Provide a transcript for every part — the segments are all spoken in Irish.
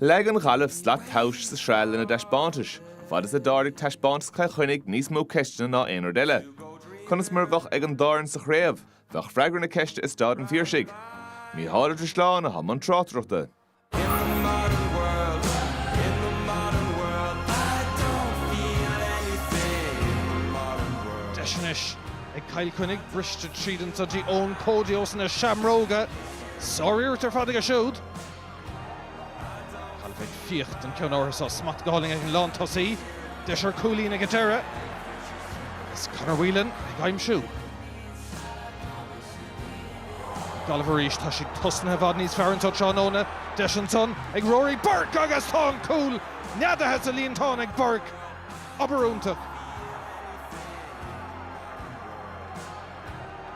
Leag an Ghaillimh slat tomhais sa sraith lena dtaispeántais, fad is a d'ardaigh taispeántas Chill Chainnigh níos mó ceisteanna ná aon rud eile. Conas mar a bheadh ag an dá fhoireann sa chraobh? Bheadh freagra na ceiste i Staid an Phiarsaigh. Mícheál Ó Drisleáin a bhí i mbun tráchtaireachta. Deis anois ag Cill Chainnigh briste tríd anso go dtí Eoin Cody ós na Seamróga. Sár-iarracht ar fad aige siúd. Gaillimh ag fiach don ceann ortha seo. Smacht go hálainn ag an lántosaí. Deis ar cúilín ag an deireadh. Agus Conor Whelan ag aimsiú. Gaillimh arís. Tá siad tosnaithe i bhfad níos fearr anso tráthnóna. Deis ansan ag Rory Burke agus tá an cúl neadaithe sa líontán ag Burke. Obair iontach.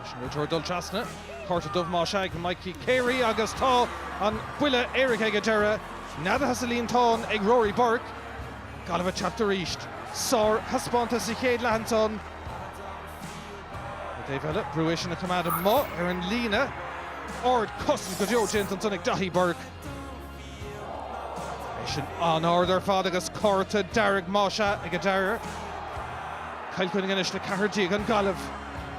Leis an réiteoir dul trasna, cárta dubh más ea ag Mikey Carey agus tá an buille éirice ag an deireadh neadaithe sa líontán ag Rory Burke. Gaillimh ag teacht arís. Sárthaispeántas sa chéad leath ansan. Ar an dtaobh eile, brú é sin a choimeád amuigh ar an líne. Ardchosaint go deo déanta ansan ag Daithí Burke. É sin an-ard ar fad agus cárta dearg más ea ag an deireadh. Cill Chainnigh anois le ceathair déag an Ghaillimh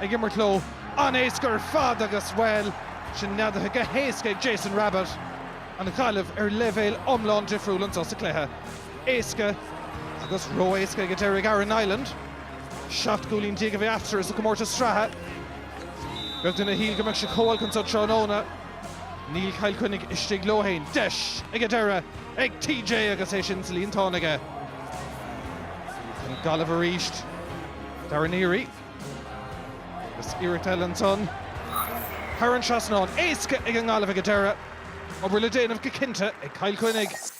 ag imirt leo. An-éasca ar fad agus, bhuel, sin neadaithe go héasca ag Jason Rabbitte. An Ghaillimh ar leibhéal iomlán difriúil anso sa cluiche. Éasca agus ró-éasca ag an deireadh ag Aaron Niland. Seacht gcúilín déag a bhí eatarthu sa gcomórtas sraithe. Beag duine a shíl go mbeadh siad chomh holc anso tráthnóna. Níl Cill Chainnigh istigh leo féin. Deis ag an deireadh ag TJ agus é sin sa líontán aige. An Gaillimh arís. Darragh Neary. Agus iarracht eile ansan. Thar an trasnán. Éasca ag an nGaillimh ag an deireadh. Obair le déanamh go cinnte ag Cill Chainnigh.